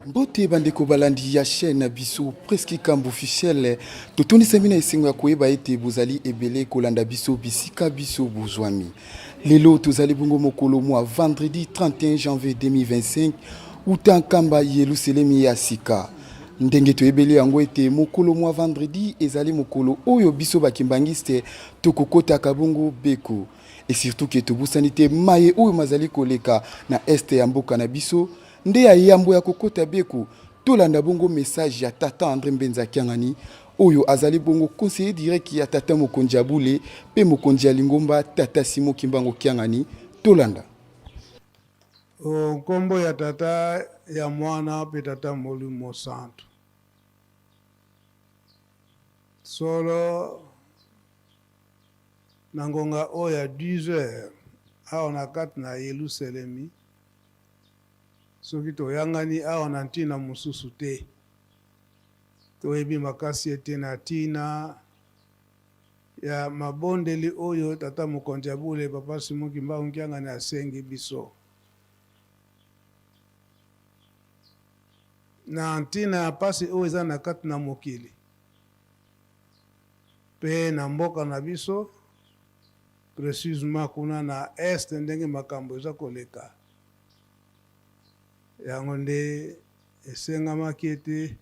mbote bandeko balandi ya chaîne na biso preski kambo officiel totondisami na esengo ya koyeba ete bozali ebele kolanda biso bisika biso bozwami lelo tozali bongo mokolo mwa vendredi 31 janvier 2025 uta nkamba yeluselemi ya sika ndenge toyebeli yango ete mokolo mwa vendredi ezali mokolo oyo biso bakimbangiste tokokotaka bongo beko e surtout ke tobosani te maye oyo mazali koleka na este ya mboka na biso nde ya yambo ya kokota beko tolanda bongo message ya tata andre mbenza kiangani oyo azali bongo conseiller direct ya tata mokonzi ya bule mpe mokonzi ya lingomba tata simo kimbango kiangani tolanda O nkombo ya Tata, ya Mwana mpe Tata Molimo Mosantu. Solo na ngonga oyo ya 10 heures awa na kati na Yelusalemi, soki toyangani awa na ntina mosusu te, toyebi makasi ete na ntina ya mabondeli oyo Tata Mokonzi ya Bule, Papa Simon Kimbangu Kiangani asengi biso. Na ntina ya mpasi oyo eza na kati na mokili mpe na mboka na biso, precisement kuna na est ndenge makambo eza koleka, yango nde esengamaki ete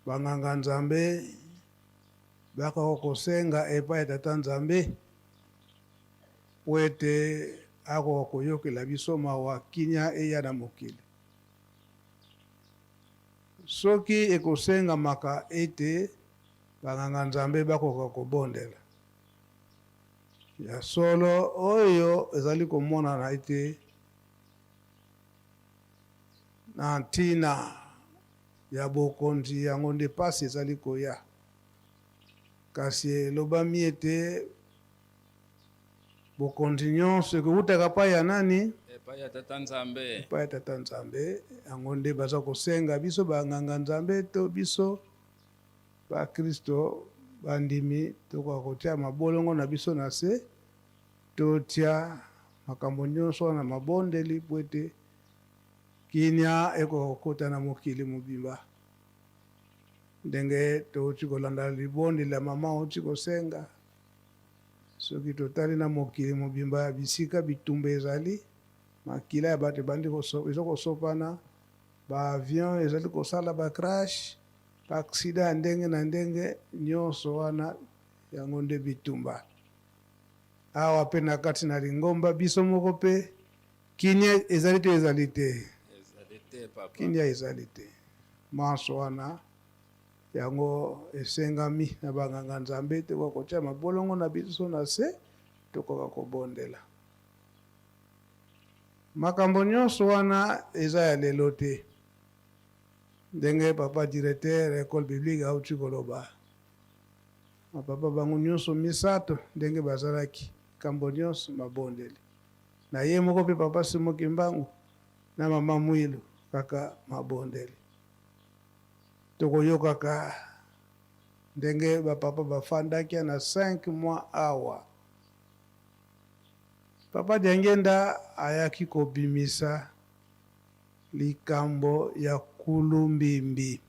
banganga Nzambe Bakoki kosenga epai ya Tata Nzambe mpo ete akoka koyokela biso mawa, kimia eya na mokili. Soki ekosengamaka ete banganga-nzambe bakoka kobondela, ya solo oyo ezali komonana ete na ntina ya Bokonzi, yango nde mpasi ezali koya. Kasi elobami ete bokonzi nyonso ekoutaka epai ya nani? Epai ya Tata Nzambe. Epai ya Tata Nzambe. Yango nde baza kosenga biso banganga Nzambe to biso bakristo bandimi tokoka kotia mabolongo na biso na se totia makambo nyonso wana mabondeli mpo ete Kimya ekokota na mokili mobimba ndenge touti kolanda libondeli ya mama auti kosenga. Soki totali na mokili mobimba ya bisika bitumba ezali, makila ya bato ebandi eza kosopana, baavion ezali kosala bacrash, baaksida ya ndenge na ndenge, nyonso wana yango nde bitumba. Awa mpe na kati na lingomba biso moko mpe Kimia ezali to ezali te? Ezali te papa. Kimia ezali te. Manso wana yango esengami na banganga Nzambe te kwa kotia mabolongo na biso na se tokoka kobondela. Makambo nyonso wana eza ya lelo te. ndenge papa directeur ya ecole biblique auti koloba papa bango nyonso misato ndenge bazalaki kambo nyonso mabondeli na ye moko mpe Papa Simon Kimbangu na Mama Mwilu kaka mabondeli. Tokoyokaka ndenge ba papa bafandaki na 5 mois awa. Papa Diangenda ayaki kobimisa likambo ya Kulumbimbi.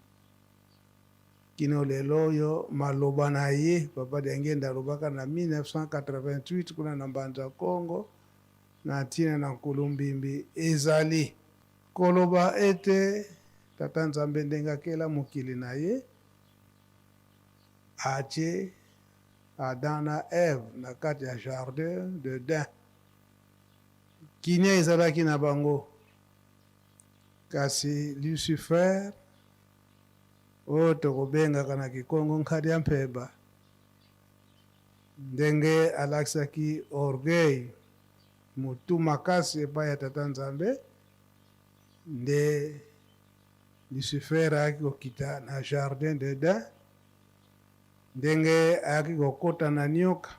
Kino lelo oyo, maloba na ye, Papa Diangenda alobaka na 1988 kuna na Mbanza Kongo na ntina na Nkulumbimbi, ezali koloba ete Tata Nzambe ndenge akela mokili na ye, atye Adam na Eve na kati ya jardin d'Eden. Kimia ezalaki na bango, kasi Lucifer, oyo tokobengaka na kikongo nkadiampemba, ndenge alakisaki orgueil, motu makasi epai ya Tata Nzambe, nde Lucifer ayaki kokita na jardin d'Eden, ndenge ayaki kokota na nioka,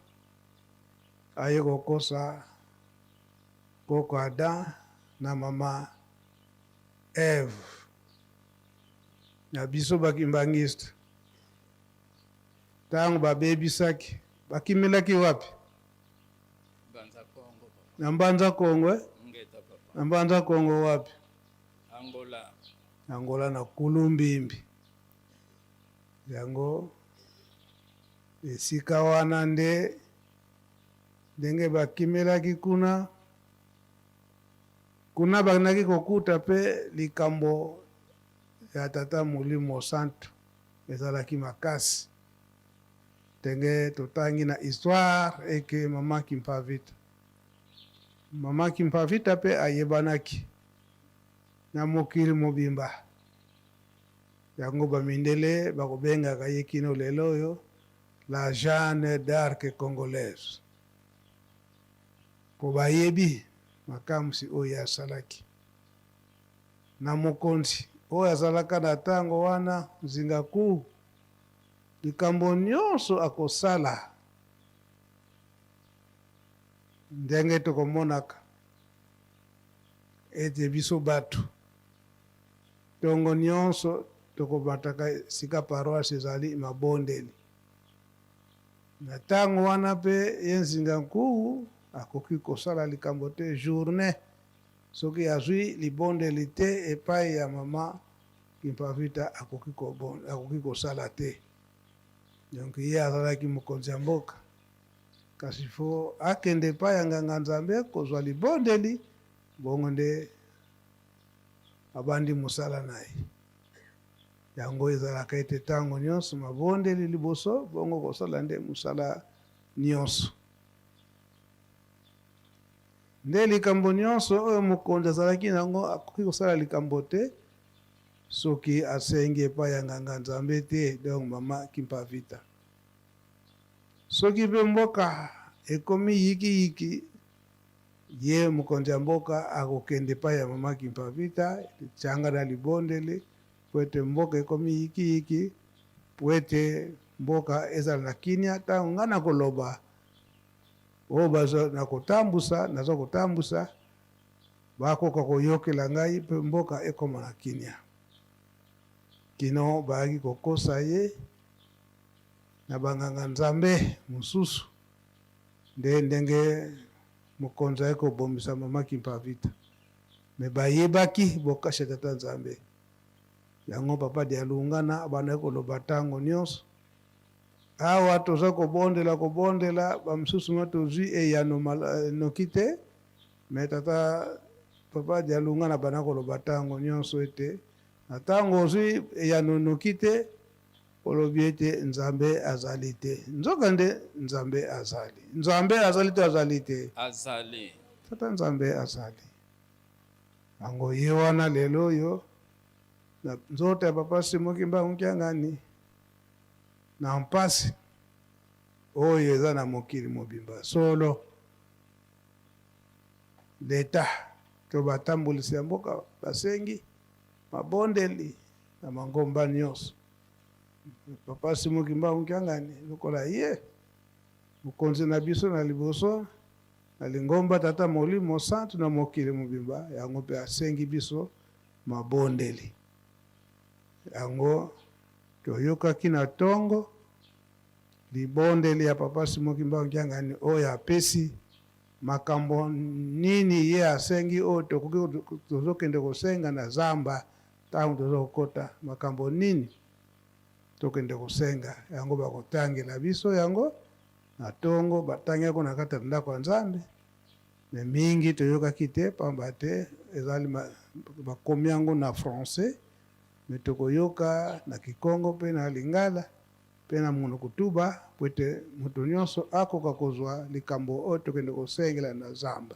aye kokosa koko Adam na mama Eve na biso bakimbangiste ntango babebisaki bakimelaki wapi? na mbanza kongo eh? na mbanza kongo wapi? angola angola na kulumbimbi yango esika wana nde ndenge bakimelaki kuna Kuna bakendaki kokuta mpe likambo ya Tata Molimo Mosantu ezalaki makasi, ndenge totangi na histoire eke Mama Kimpavita. Mama Kimpavita mpe ayebanaki na mokili mobimba, yango ba mindele bakobengaka ye kino lelo oyo la Jeanne d'Arc congolaise. mpo bayebi makamwisi oyo ye asalaki na mokonzi oyo azalaka na ntango wana, nzinga kuu likambo nyonso akosala. Ndenge tokomonaka ete biso bato ntongo nyonso tokomataka esika paroisse ezali mabondeli. Na tango wana mpe ye Nzinga Nkuwu akoki kosala likambo te journee soki azui libondeli te epayi ya mama Kimpa Vita akoki kobonda akoki kosala te donc ye azalaki mokonzi ya mboka kasi fo akende epayi ya nganga Nzambe kozua libondeli bongo nde abandi mosala na ye. Yango ezalaka ete ntango nyonso mabondeli liboso, bongo kosala nde mosala nyonso. Nde likambo nyonso oyo mokonzi azalaki na yango, akoki kosala likambo te soki asengi epai ya nganga nzambe te donc mama kimpa vita soki mpe mboka ekomi yikiyiki ye mokonzi ya mboka akokende epai ya mama kimpa vita lityanga na libondeli mpo ete mboka ekomi yikiyiki, mpo ete mboka ezala na kimia. Ntango ngai nakoloba oyo baza na kotambusa, naza kotambusa, bakoka koyokela ngai mpe mboka ekoma na kimia. Kino bayaki kokosa ye na banganga nzambe mosusu, nde ndenge Mokonzi aye kobomisa mama kimpa vita me bayebaki bokasi ya tata nzambe yango papa dialungana abandaki koloba ntango nyonso awa toza kobondela kobondela bamosusu ma tozwi eyano eh, noki te me tata papa dialungana abandaki koloba ntango nyonso ete na ntango ozwi eyano noki te Olobi ete Nzambe azali te. Nzokande Nzambe azali. Nzambe azali to azali te? Azali. Tata Nzambe azali. Yango ye wana lelo oyo na nzoto ya Papa Simon Kimbangu Kiangani na mpasi oyo eza na mokili mobimba solo leta to batambulisi ya mboka basengi mabondeli na mangomba nyonso. Papa Simo Kimbangu Kiangani lokola ye mokonzi na biso na liboso na lingomba Tata Molimo Santu na mokili mobimba, yango mpe asengi biso mabondeli yango toyokaki na ntongo libondeli ya Papa Simo Kimbangu Kiangani oyo apesi makambo nini ye asengi oyo tokoki tozokende kosenga na zamba Tango toza kokota makambo nini tokende kosenga yango bakotangela biso yango na tongo batangi yango na kati ya ndako ya Nzambe mais mingi toyokaki te pamba te ezali bakomi yango na français mais tokoyoka na kikongo mpe na lingala mpe na monoko tuba mpo ete moto nyonso akoka kozwa likambo oyo tokende kosengela na zamba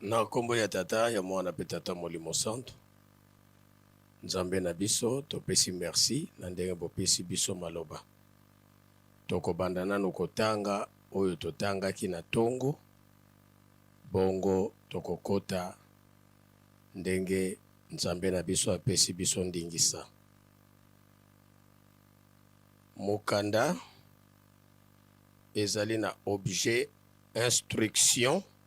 Na nkombo ya Tata, ya Mwana, mpe Tata Molimo Santu. Nzambe na biso, topesi mersi na ndenge bopesi biso maloba. Tokobanda nanu kotanga oyo totangaki na ntongo, bongo tokokota ndenge Nzambe na biso apesi biso ndingisa. Mokanda ezali na objet instruction.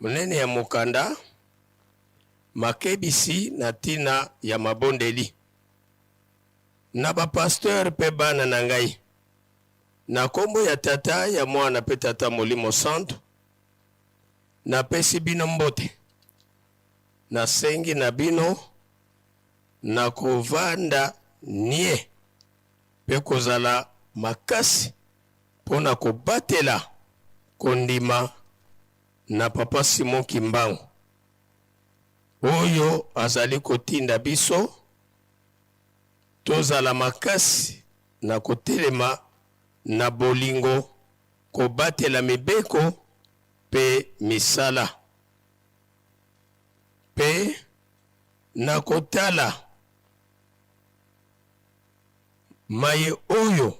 Monene ya mokanda Makebisi na ntina ya mabondeli na bapasteur mpe bana na ngai, na nkombo ya Tata, ya Mwana mpe Tata Molimo Santu, napesi bino mbote. Nasengi na bino na kovanda nie mpe kozala makasi mpo na kobatela kondima na Papa Simon Kimbangu oyo azali kotinda biso tozala makasi na kotelema na bolingo, kobatela mibeko mpe misala, mpe na kotala. Maye oyo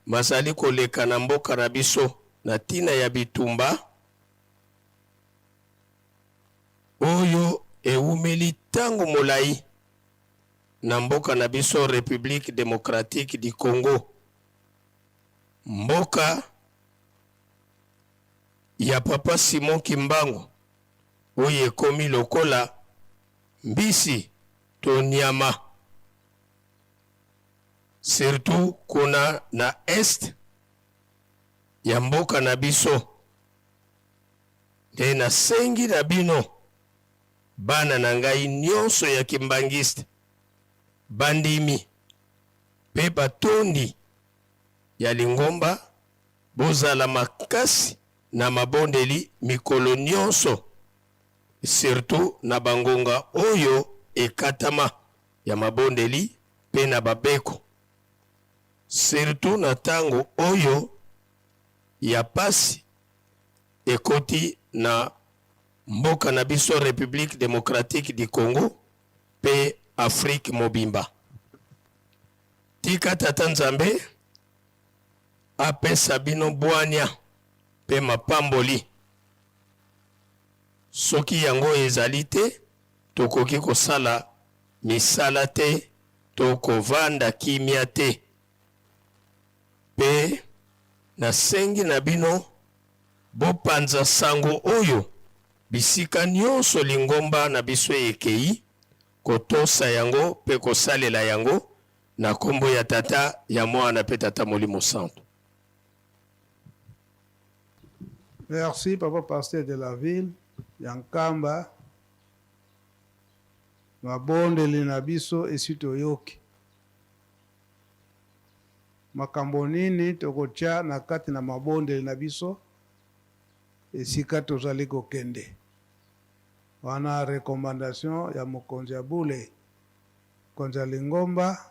mazali koleka na mboka na biso na tina ya bitumba oyo ewumeli tango molayi na mboka na biso Republique democratique du Congo, mboka ya Papa Simon Kimbangu oyo ekomi lokola mbisi to niama. surtout kuna na est ya mboka na biso. Nde nasengi na bino bana na ngai nyonso ya kimbangiste bandimi mpe batondi ya lingomba bozala makasi na mabondeli mikolo nyonso, surtout na bangonga oyo ekatama. ya mabondeli mpe na babeko, surtout na tango oyo ya pasi ekoti na mboka na biso Republique Democratique du Congo mpe Afrique mobimba. Tika Tata Nzambe apesa bino bwania mpe mapamboli. Soki yango ezali te, tokoki kosala misala te to kovanda kimia te. Pe nasengi na bino bopanza sango oyo bisika nionso lingomba na biso ekei, kotosa yango pe kosalela yango, na kombo ya Tata, ya Mwana pe Tata Molimo Santu. Merci papa pasteur de la ville ya Nkamba, mabondeli na biso esi toyoki. Makambo nini tokotya na kati na mabondeli na biso esika tozali kokende? Wana recommandation ya mokonzi ya bule, mokonzi ya lingomba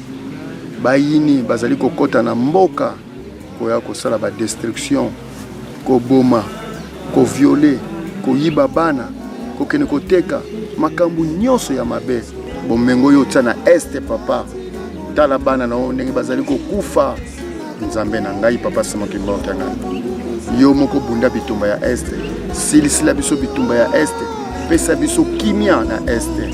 Bayini bazali kokota na mboka koya kosala ba destruction, koboma, koviole, koyiba bana, kokende koteka makambo nyonso ya mabe. Bomengo oyo otya na este papa, tala bana na yo ndenge bazali kokufa. Nzambe na ngai papa Simon Kimbangu ngai yo moko bunda bitumba ya este, silisila biso bitumba ya este, pesa biso kimia na este.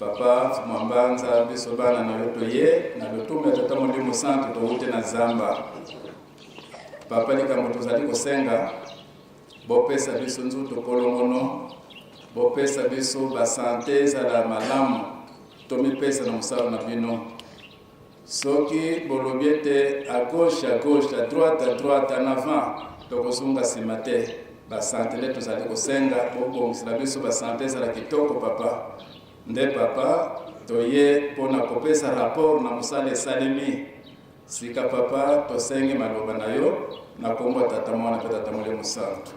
papa mwambanza biso bana na yo toye na lotumba ya tata molimo santu towute na zamba papa likambo tozali kosenga bopesa biso nzutu kolongono bopesa biso basante ezala malamu tomipesa na mosala na bino Soki bolobi ete à gauche à gauche à droite à droite en avant tokozonga nsima te basante nde tozali kosenga bobongisela biso basante ezala kitoko papa nde papa toye mpo na kopesa rapport na mosala esalemi sika papa tosengi maloba na yo na nkombo ya tata mwana mpe tata mole mosantu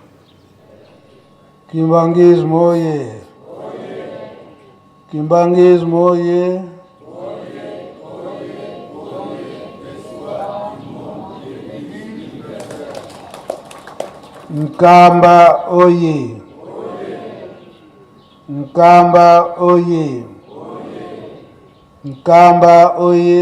kimbangisme oye Kimbanguisme oye! Nkamba oye! Nkamba oye! Nkamba oye!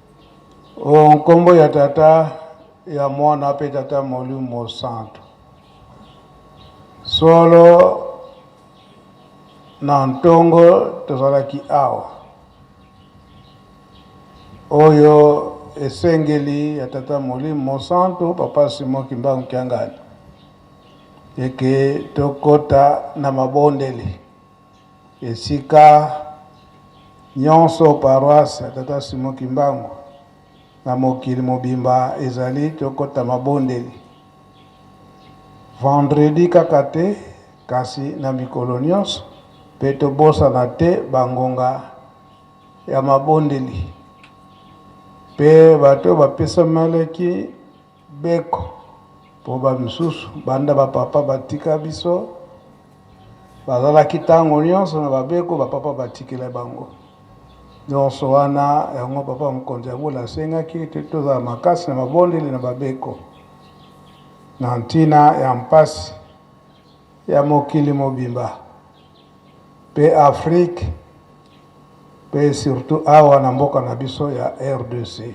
O nkombo ya Tata, ya Mwana mpe Tata Molimo Mosantu. Solo na ntongo tozalaki awa. Oyo esengeli ya Tata Molimo Mosantu, Papa Simon Kimbangu Kiangani, eke tokota na mabondeli. Esika nyonso paroisse ya Tata Simon Kimbangu na mokili mobimba ezali, tokota mabondeli vendredi kaka te kasi na mikolo nyonso, mpe tobosana te bangonga ya mabondeli mpe bato bapesamelaki Beko po ba misusu banda ba papa batika biso bazalaki tango nionso na ba beko ba papa batikela bango nionso wana yango papa mokonzi ya bula asengaki ete tozala makasi na mabondeli na ba beko na ntina ya mpasi ya mokili mobimba. pe Afrique pe surtout awa na mboka na biso ya RDC.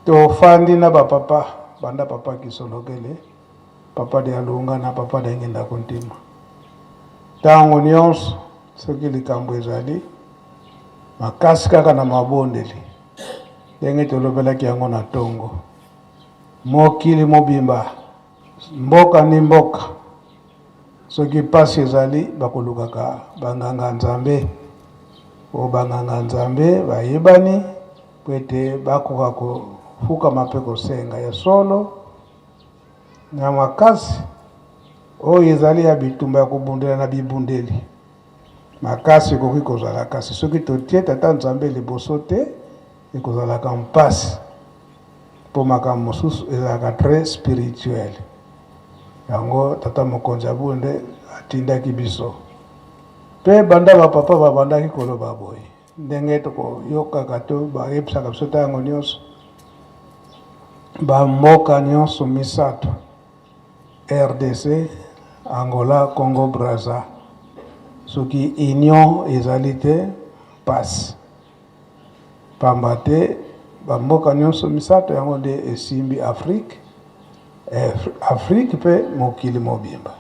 Tofandi na ba papa banda papa Kisolokele, papa de Alunga na papa de Ngenda Kuntima. Tango nyonso soki likambo ezali makasi kaka na mabondeli ndenge tolobelaki yango na ntongo mokili mobimba Mboka ni mboka soki pasi ezali bakolukaka banganga Nzambe oyo banganga Nzambe bayebani mpo ete bakoka kofukama mpe kosenga ya solo na makasi oyo ezali ya bitumba ya kobundela na bibundeli makasi ekoki kozala kasi soki totie tata Nzambe liboso te Ekozalaka mpasi mpo makambo mosusu ezalaka très spirituel. Yango tata mokonzi ya bonde atindaki biso mpe banda bapapa babandaki koloba boye ndenge tokoyokaka to bayebisaka biso ntango nyonso bamboka nyonso misato rdc angola congo braza soki union ezali te mpasi Pamba te ba mboka nionso misato yango nde esimbi Afrique, Afrique pe mokili mobimba.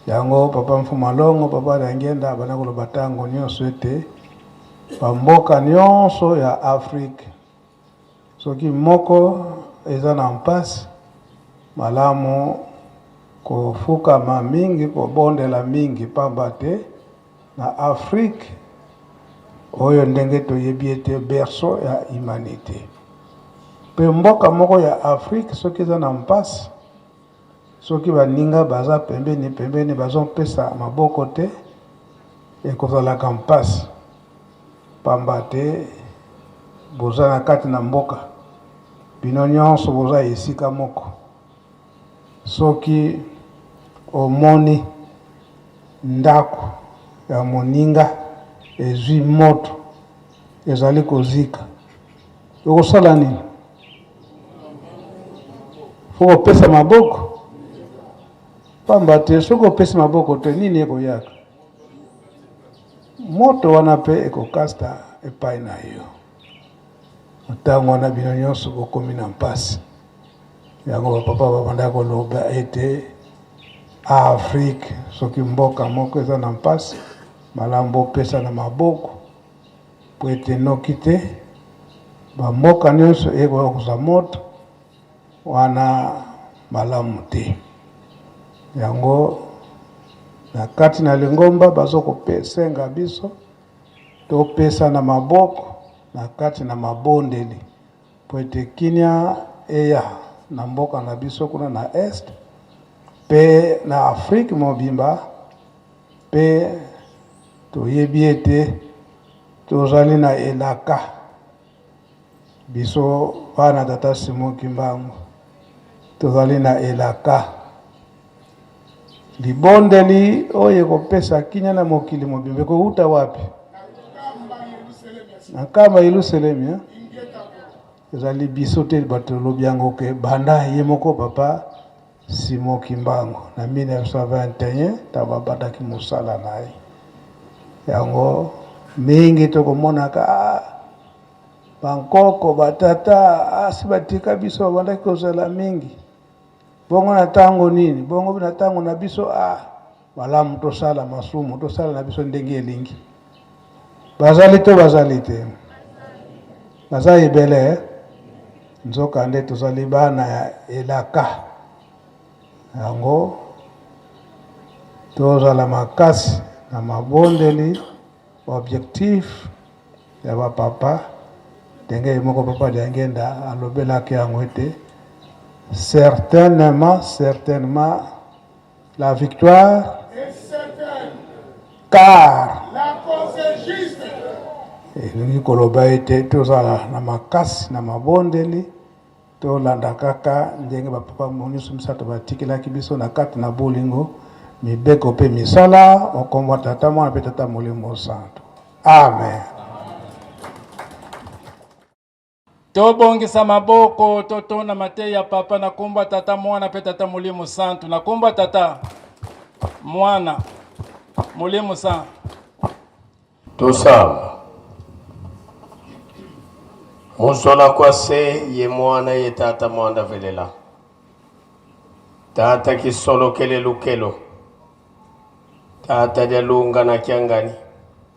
Yango papa Mfuma Longo, papa Diangienda abanda koloba tango nionso ete ba mboka nionso ya Afrique Soki moko eza na mpasi, malamu kofukama mingi, kobondela mingi, pamba te na Afrique oyo ndenge toyebi ete berceau ya humanite, pe mboka moko ya Afrique soki eza na mpasi, Soki baninga baza pembeni pembeni bazopesa maboko te, ekozalaka mpasi pamba te boza na kati na mboka, bino nyonso boza esika moko. Soki omoni ndako ya moninga ezwi moto, ezali kozika, okosala nini? okopesa maboko pamba te soki opesi maboko te nini ekoyaka moto wana mpe ekokasta epai na yo ntango wana bino nyonso bokomi na mpasi yango bapapa babanda koloba ete afrike soki mboka moko eza na mpasi malamu bopesa na maboko Mpo ete noki te bamboka nyonso ekoka kozwa moto wana malamu te. Yango na kati na lingomba bazokosenga biso topesa na maboko na kati na mabondeli mpo ete kimia eya na mboka na biso kuna na est mpe na Afrique mobimba. Mpe toyebi ete tozali na elaka, biso bana tata Simon Kimbangu, tozali na elaka libondeli oyo ekopesa kimia na mokili mobimba ekowuta wapi? na nkamba yelusalemi eh? ezali biso te bato tolobi yango ke banda ye moko papa Simon Kimbangu na 1921 ntango abandaki mosala na ye. Yango mingi tokomonaka bankoko batata asi batika biso babandaki kozala mingi bongo na ntango nini bongo na ntango na biso a Malamu tosala masumu, tosala na biso ndenge elingi. Bazali to bazali te? Baza ebele, eh? nzokande tozali bana ya elaka yango tozala makasi na mabondeli objectif ya bapapa ndenge ye moko papa liangenda alobelaki yango ete certainement certainement La victoire est certaine car la cause est juste. Elingi koloba ete tozala na makasi na mabondeli tolanda kaka ndenge bapapa nyonso misato batikelaki biso na kati na bolingo mibeko mpe misala okombo tata mwana mpe tata molimo santo amen Tobongisa maboko, totonda mateya ya Papa na kombo ya Tata, Mwana mpe Tata Molimo Santu. Na kombo ya Tata, Mwana, Molimo Santu. Tosala. Mosala kwa se ye mwana ye tata mwanda velela. Tata kisolo kele lukelo. Tata jalunga na kiangani.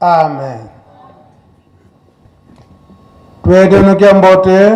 Amen. Twedenukia mbote.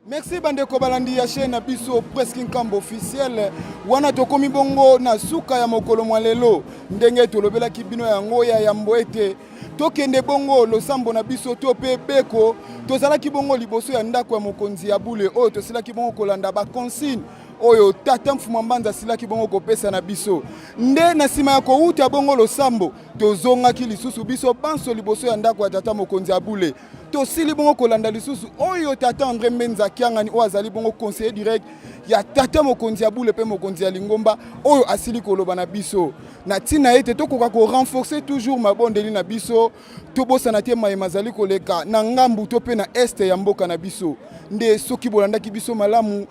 Merci bandeko balandi ya chaîne na biso Presque Nkambo officiel wana tokomi bongo na suka ya mokolo mwa lelo ndenge tolobelaki bino yango ya yambo ete tokende bongo losambo na biso to mpe beko tozalaki bongo liboso ya ndako ya mokonzi ya bule oyo tosilaki bongo kolanda baconsigne oyo tata mfuma mbanza asilaki bongo kopesa na biso nde na nsima ya kowuta bongo losambo tozongaki lisusu biso banso liboso ya ndako ya tata mokonzi ya bule tosili bongo kolanda lisusu oyo tata andre mbenza kiangani oyo azali bongo conseiller direct ya tata mokonzi ya bule mpe mokonzi ya lingomba oyo asili koloba na biso na ntina ete tokoka korenforce toujours mabondeli na biso tobosana te maye mazali koleka na ngambu to mpe na este ya mboka na biso nde soki bolandaki biso malamu